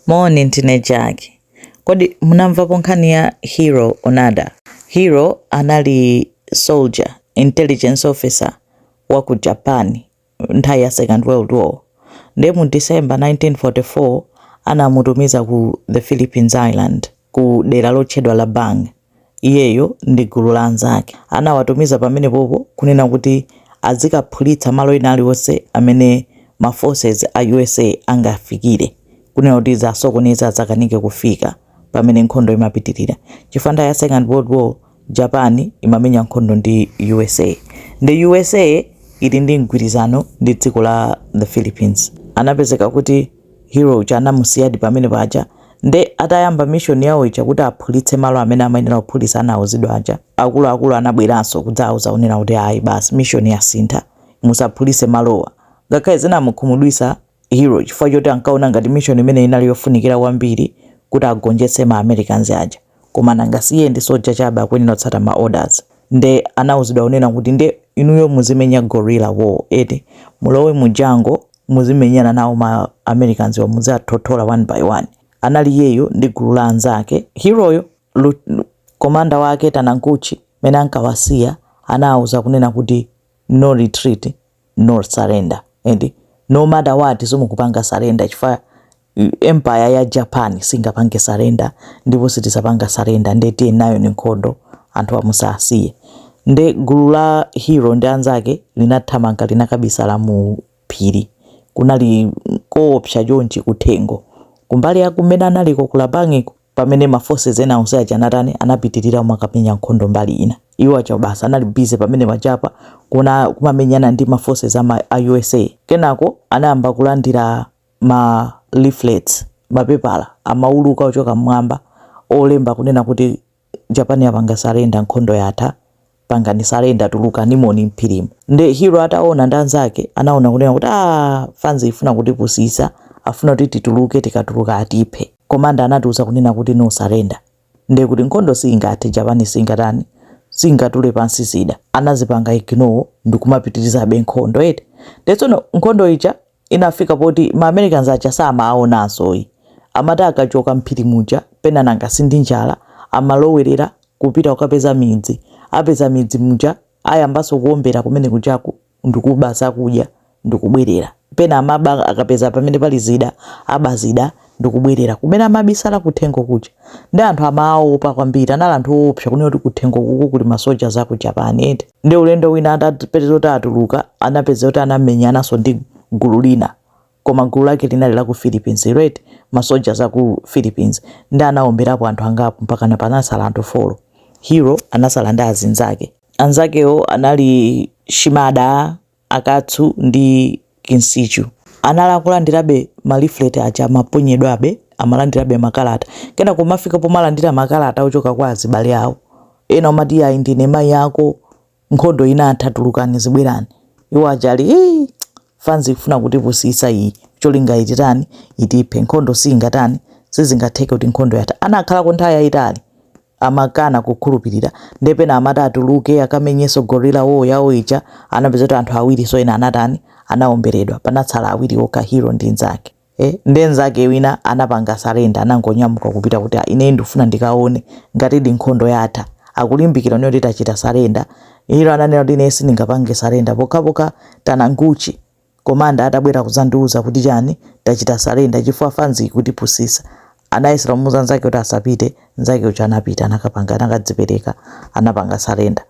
Moni ndine Jack. Kodi munamvapo nkhani ya Hiro Onoda? Hiro anali soldier, intelligence officer, wa ku Japan nthawi ya Second World War. Ndiye mu December 1944 anamutumiza ku the Philippines Islands. ku dera lotchedwa Lubang. Iyeyo ndi gulu la anzake anawatumiza pamenepopo kunena kuti adzikaphulitsa malo ena aliwonse amene ma forces a usa angafikire kunena kuti adzasokoneze adzakanike kufika pamene nkhondo imapitilira chifukwa nthawi ya second world war Japan imamenya nkhondo ndi usa nde usa ili ndi mgwirizano ndi dziko la the Philippines anapezeka kuti Hiro uja anamusiyadi pamene paja nde atayamba mission yawo ija kuti aphulitse malo amene amayenera kuphulitsa anauzidwa aja, akuluakulu anabweranso kudzauza kunena kuti ayi basi mission yasintha musaphulitse malowa. Ngakhale zinamukhumudwitsa Hiro chifukwa choti ankaona ngati mission imeneyi inali yofunikira kwambiri kuti agonjetse ma Americans aja. Koma nanga si iye ndi soja chabe akuyenera kutsata ma orders? Nde anauzidwa kunena kuti nde inuyo muzimenya guerrilla war eti? Mulowe mu jungle muzimenyana nawo ma Americanswa muziwathothola one by one. Anali iyeyo ndi gulu la anzake. Hiroyo, commander wake Taniguchi mmene ankawasiya anauza kunena kuti no retreat. no surrender and no matter what simukupanga surrender chifukwa empire ya Japan singapange surrender ndipo sitizapanga surrender nde tiye nayoni nkhondo anthu musasiye nde gulu la Hiro ndi anzake linathamanga linakabisala mu phiri kunali koopsa chonchi kuthengo kumbali ya kumene analiko ku Lubangiko pamene ma forces ena onse aja anatani anapitirira kumakamenya nkhondo mbali ina iwo aja basi anali busy pamene pajapa kuna kumamenyana ndi ma forces a USA kenako anayamba kulandira ma leaflets mapepala amauluka ochoka mmwamba olemba kunena kuti Japan yapanga surrender nkhondo yatha pangani surrender tulukanimoni mphirimu nde Hiro ataona ndi anzake anaona kunena kuti fanzi ifuna kutipusisa afuna kuti tituluke tikatuluka atiphe komanda anatiuza kunena kuti no surrender nde kuti nkhondo singathe japani singatani singatule pansi zida anazipanga ignore ndikumapitirizabe nkhondo eti nde tsono nkhondo ija inafika poti ma Americans aja samawaonanso ayi amati akachoka mphiri muja pena nanga sindi njala amalowerera kupita kukapeza midzi apeza midzi muja ayambanso kuombera kumene kujaku ndikuba zakudya ndikubwerera pena amaba akapeza pamene pali zida aba zida ndikubwerera kumene amabisala kuthengo kuja ndi anthu amawaopa kwambiri anali anthu oopsa kunena kuti kuthengo kuku kuli ma soldiers a ku japan eti ndi ulendo wina atapeza kuti atuluka anapeza kuti anamenyananso ndi gulu lina koma gulu lake linali la ku philippines eti ma soldiers a ku philippines ndi anaomberapo anthu angapo mpakana panasala anthu folo hiro anasala ndi azinzake anzakewo anali shimada Akatsu ndi Kinsichu anali akulandirabe ma leaflet aja amaponyedwabe, amalandirabe makalata, kenako kumafika pomalandira makalata ochoka kwa azibale awo, ena omati iyayi ndine mayi ako, nkhondo inatha tulukani zibwerani, iwo aja ali hii fanzi ikufuna kutipusitsa iyi, cholinga ititani, itiphe, nkhondo siingatani, sizingatheke kuti nkhondo yatha, anakhalako nthawi yayitali. amakana kukhulupilira nde pena amati atuluke akamenyenso guerrilla war yawo ija anapeza kuti anthu awirinso ena anatani anaomberedwa panatsala awiri okha hiro ndi nzake eh, nde nzake wina anapanga surrender anangonyamuka kupita kuti "Ah, ine ndifuna ndikaone ngatidi nkhondo yatha akulimbikira kuti tachita surrender hiro ananena kuti ine sindingapange surrender pokhapokha taniguchi Commander atabwera kudzandiuza kuti chani tachita surrender chifukwa fanzi ikutipusisa anayesera kumuuza nzake kuti asapite nzake uja anapita anakapanga anakadzipereka anapanga surrender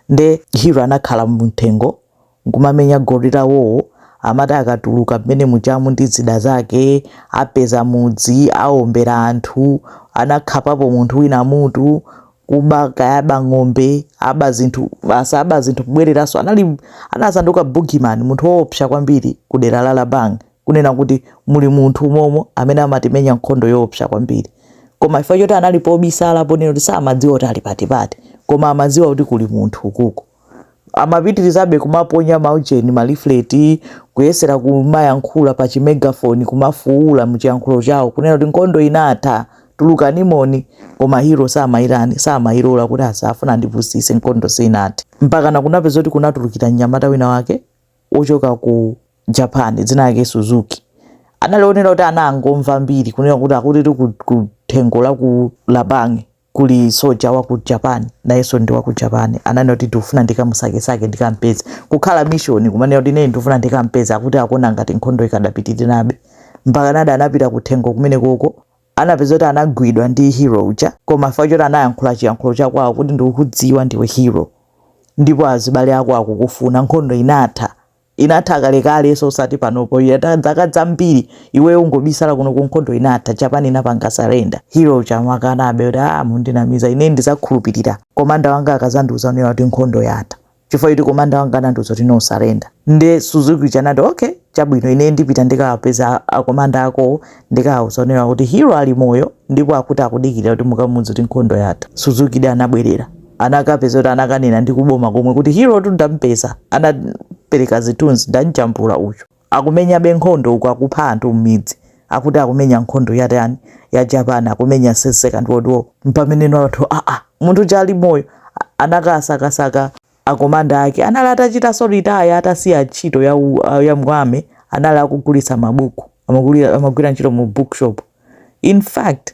nde hiro anakhala muthengo nkumamenya guerrilla war amati akatuluka mmene mujamu ndi zida zake apeza mudzi aombera anthu anakhapapo munthu wina mutu kuba kaya aba ng'ombe aba zinthu basi aba zinthu kubwereranso anali anasanduka boogeyman munthu woopsa kwambiri ku dera la labang kunena kuti muli munthu umomo amene amatimenya nkhondo yoopsa kwambiri koma chifukwa choti anali pobisala ponena kuti samadziwa kuti ali patipati koma amadziwa kuti kuli munthu ukuko amapitirizabe kumaponya maujeni ma leaflet kuyesera kumayankhula pa chimegafoni kumafuula muchiyankhulo chawo kunena kuti nkhondo inatha tulukanimoni koma hiro samayitani samayilola kuti asa afuna andipusise nkhondo sinathe mpakana kunapeza kuti kunatulukira mnyamata wina wake wochoka ku japan dzina lake suzuki anali onena kuti anangomva mbiri kunena kuti akuti kuthengo la ku labange kuli soja wa ku japan nayenso ndi wa ku japan ananena kuti ndikufuna ndikamusakesake ndikampeze kukhala mission kumanena kuti ine ndikufuna ndikampeze akuti akuona ngati nkhondo ikadapitirirabe mpakanadi anapita kuthengo kumene koko anapeza kuti anagwidwa ndi hiro uja koma chifukwa choti anayankhula chiyankhulo chakwawo kuti ndikukudziwa ndiwe hiro ndipo azibale ako akukufuna nkhondo inatha Inatha kalekale so osati panopo iyo yatha dzaka dzambiri iweyo ungobisala kunoko nkhondo inatha Japan inapanga surrender Hero uja amakanabe kuti aah mundinamiza ine ndizakhulupilira commander wanga akazandiuza one kuti nkhondo yatha chifukwa choti commander wanga anandiuza kuti no surrender nde Suzuki uja anati okay chabwino ine ndipita ndikawapeza a commander akowo ndikawauza one kuti Hero ali moyo ndipo akuti akudikilira kuti mukamuuze kuti nkhondo yatha Suzukidi anabwelera anakapeza kuti anakanena ndi kuboma komwe kuti herotu ndampeza anapereka zithunzi ndamjambula uyu akumenyabe nkhondo uku akupha anthu m'midzi akuti akumenya nkhondo yatani ya japan akumenya se- second world war mpameneno anthu aa munthu uja ali moyo a- anakasakasaka akomanda ake anali atachitanso retire atasiya ntchito ya, u- a- ya mu army anali akugulitsa mabuku amagulira- amagwira ntchito mu bookshop in fact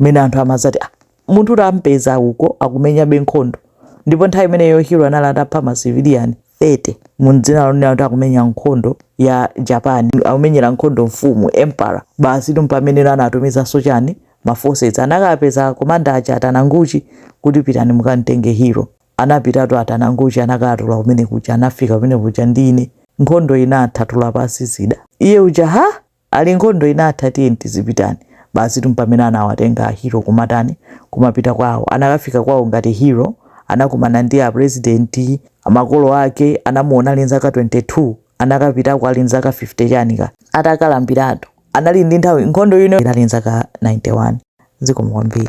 mmene anthu amadzati, ah, munthu tampeza uko akumenyabe nkhondo ndipo nthawi imeneyo hiro anali atapha masiviliani 30 mu dzina lonena kuti akumenya nkhondo ya japan akumenyera nkhondo mfumu emperor basitu mpameneno anatumizanso chani maforces anakapeza komanda aja a Tananguchi kuti pitani mukamtenge hiro anapitatu a Tananguchi anakatula kumene kuja anafika kumene kuja ndine nkhondo inatha tula pansi zida iye uja ha Ali nkhondo inatha tiyeni tizipitani. Basitu mpamene anawatenga a Hero kumatani, kumapita kwawo. Anakafika kwawo ngati Hero, anakumana ndi a president, a makolo ake, anamuona ali nzaka 22, anakapitako ali nzaka 50 chani ka. Atakalambiratu, anali ndi nthawi, nkhondo ino inali nzaka 91. Zikomo kwambiri.